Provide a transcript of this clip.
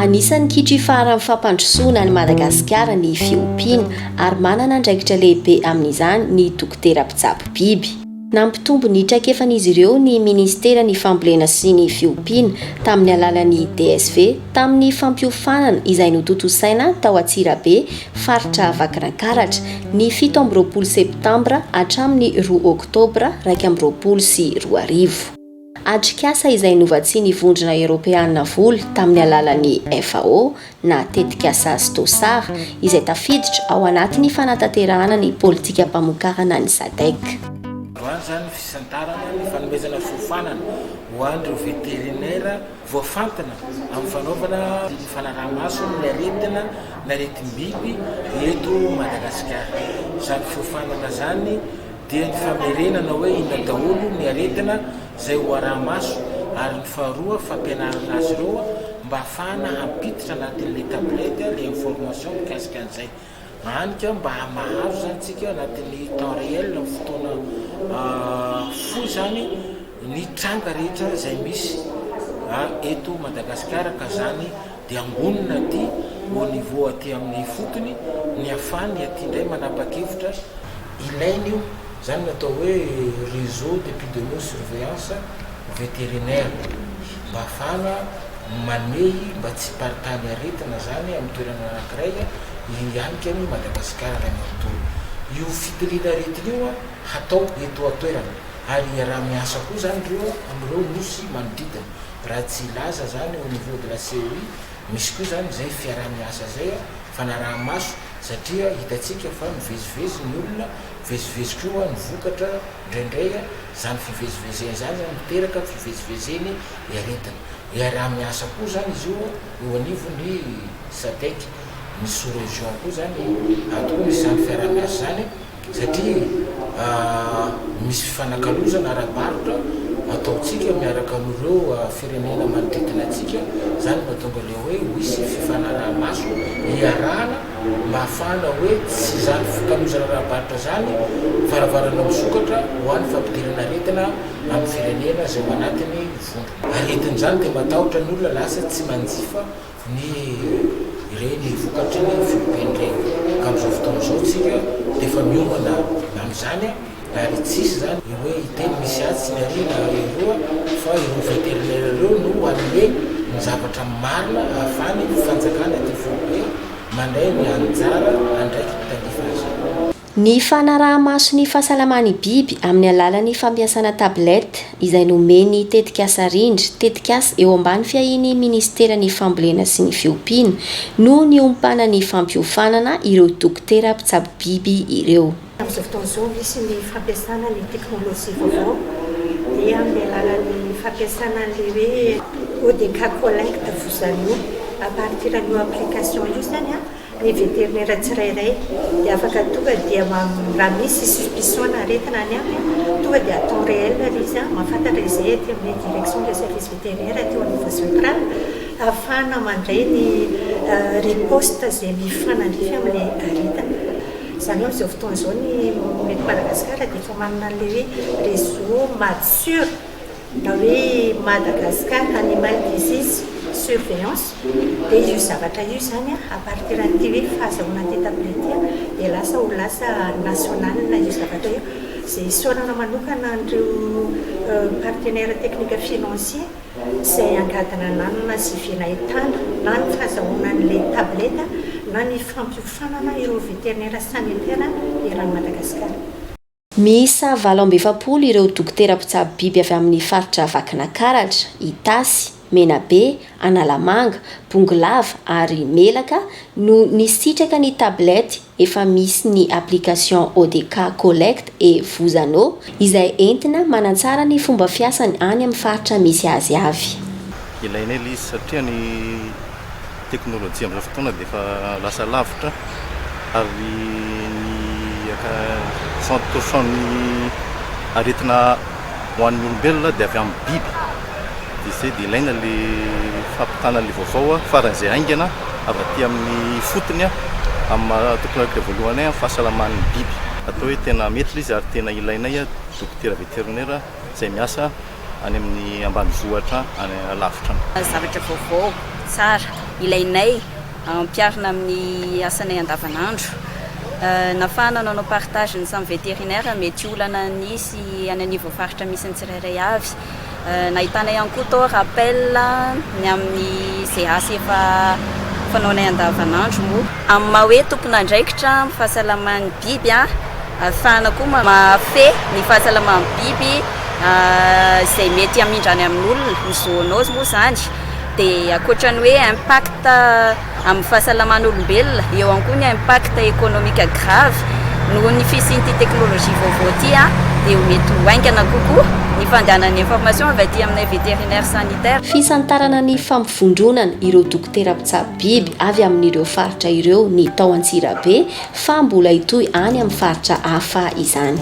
Anisan'ny kitri faharan'ny fampandrosoana an'i Madagasikara ny fiompiana ary manana andraikitra lehibe amin'izany ny dokotera mpitsabo biby. Nampitombo ny traikefan'izy ireo ny minisiteran'ny Fambolena sy ny fiompiana tamin'ny alalan'ny DSV tamin'ny fampiofanana izay notontosaina tao Antsirabe Faritra Vakinankaratra, ny fito amby roapolo septambra hatramin'ny roa oktobra iraika amby roapolo sy roa arivo. Atrikasa izay novatsian'ny Vondrona Eoropeana vola tamin'ny alalan'ny FAO na Tetikasa Stosar izay tafiditra ao anatin'ny fanatanterahana ny politikam-pamokarana ny Sadec. Voalohany izany ny fisantarana ny fanomezana fiofanana ho an'ireo veterinera Voafantina amin'ny fanaovana fanaraha-maso ny aretina n'aretim-biby eto Madagasikara. Izany fiofanana izany dia ny famerenana hoe inona daholo ny aretina izay ho araha-maso ary ny faharoa fampianarana azy ireo mba hahafahana hampiditra anatin'ilay tablette ilay information mikasika an'izay. Any ka mba mahazo izany tsika anatin'ny temps réel amin'ny fotoana fohy izany ny tranga rehetra izay misy eto Madagasikara ka izany dia angonina aty au niveau aty amin'ny ifotony ny hafany aty indray manapakevitra ilaina io izany no atao hoe réseau d'épidémio surveillance vétérinaire mba hafahana manehy mba tsy hiparitany aretina zany amin'ny toerana anankiray hihanika an'i Madagasikara iray manontolo. Io fitiliana aretina io hatao eto an-toerana ary hiaraha-miasa koa zany ireo amin'ireo nosy manodidina. Raha tsy hilaza zany au niveau de la CEI, misy koa zany izay fiaraha-miasa izay, fanaraha-maso satria hitantsika fa mivezivezy ny olona, mivezivezy koa ny vokatra indraindray, izany fivezivezena izany zany miteraka fivezivezeny. hiaretana. Hiaraha-miasa koa izany izy io eo anivon'ny Sadec. Ny sous-région koa izany atokony izany fiaraha-miasa izany satria misy fifanakalozana ara-barotra ataontsika miaraka amin'ireo firenena manodidina antsika. Izany no mahatonga ilay hoe ho hisy fifanaraha-maso hiarahana mba hahafahana hoe tsy izany fifankalozana ara-barotra izany varavarana misokatra ho an'ny fampidirana aretina. amin'ny firenena izay ao anatin'ny vondrona. Aretin'izany dia matahotra ny olona lasa tsy manjifa ny ireny vokatry ny fiompiany ireny. Ka amin'izao fotoana izao isika dia efa miomana amin'izany ary tsy hisy izany ny hoe hiteny misy atsy ny aroa na eroa fa ireo vétérinaires ireo no hanome ny zavatra marina ahafahany ny fanjakana ity foibe mandray ny anjara andraikiny tandrify azy ity. Ny fanaraha-maso ny fahasalaman'ny biby amin'ny alalan'ny fampiasana tablette izay nomen'ny tetikasa Rindra, tetikasa eo ambany fiahian'ny Minisiteran'ny Fambolena sy ny Fiompiana, no niompana ny fampiofanana ireo dokotera mpitsabo biby ireo. Amin'izao fotoana izao, misy ny fampiasana ny teknolojia vaovao, dia amin'ny alalan'ny fampiasana an'ilay hoe ODK Collect, vous à nous, à partir an'io application io izany an, Ny veterinera tsirairay dia afaka tonga dia raha misy suspicion na aretina any aminy tonga dia à temps réel ary izy an, mahafantatra izay aty amin'ny direction des services vétérinaires aty au niveau central ahafahana mandray ny riposte izay mifanandrify amin'ilay aretina. Izany hoe amin'izao fotoana izao ny eto Madagasikara dia efa manana an'ilay hoe réseau MADSUR. na hoe Madagascar Animal Disease Surveillance dia io zavatra io izany a partir an'ity hoe fahazahoana an'ity tableau ity dia lasa ho lasa national io zavatra io izay isaorana manokana an'ireo partenaire technique financier izay angadina nanana sy vy nahitana na ny fahazahoana an'ilay tablette na ny fampiofanana ireo vétérinaire sanitaire eran'i Madagasikara. Miisa valo amby efapolo ireo dokotera mpitsabo biby avy amin'ny faritra Vakinakaratra, Itasy, Menabe, Analamanga, Bongolava ary Melaka no nisitraka ny tablette efa misy ny application ODK Collect et Vous Anneau izay entina manatsara ny fomba fiasany any amin'ny faritra misy azy avy. Ilaina ela izy satria ny. teknolojia amin'izao fotoana dia efa lasa lavitra ary ny soixante pour cent ny aretina ho an'ny olombelona dia avy amin'ny biby dia izay dia ilaina le fampitana le vaovao faran'izay haingana avy aty amin'ny fotony amin'ny maha teknolojia voalohany amin'ny fahasalaman'ny biby. Atao hoe tena metre izy ary tena ilainay dokotera vétérinaire. izay miasa any amin'ny ambanivohitra any alavitra any. Zavatra vaovao, tsara, ilainay ampiharina amin'ny asanay andavanandro. Nafahana nanao partage ny samy vétérinaire mety olana nisy any anivon'ny faritra misy ny tsirairay avy. Nahitana ihany koa tao rappel ny amin'izay asa efa fanaonay andavanandro moa. Amin'ny maha hoe tompon'andraikitra amin'ny fahasalaman'ny biby, Ahafahana koa mamafy ny fahasalaman'ny biby izay mety hamindra any amin'olona, ny zoonose moa izany. Dia ankoatra ny hoe impact amin'ny fahasalaman'olombelona, eo ihany koa ny impact économique grave noho ny fisian'ity teknolojia vaovao ity dia mety ho haingana kokoa ny fandehanan'ny information avy aty aminay vétérinaire sanitaire. Fisantarana ny fampivondronana ireo dokotera mpitsabo. biby avy amin'ireo faritra ireo ny tao Antsirabe fa mbola hitohy any amin'ny faritra hafa izany.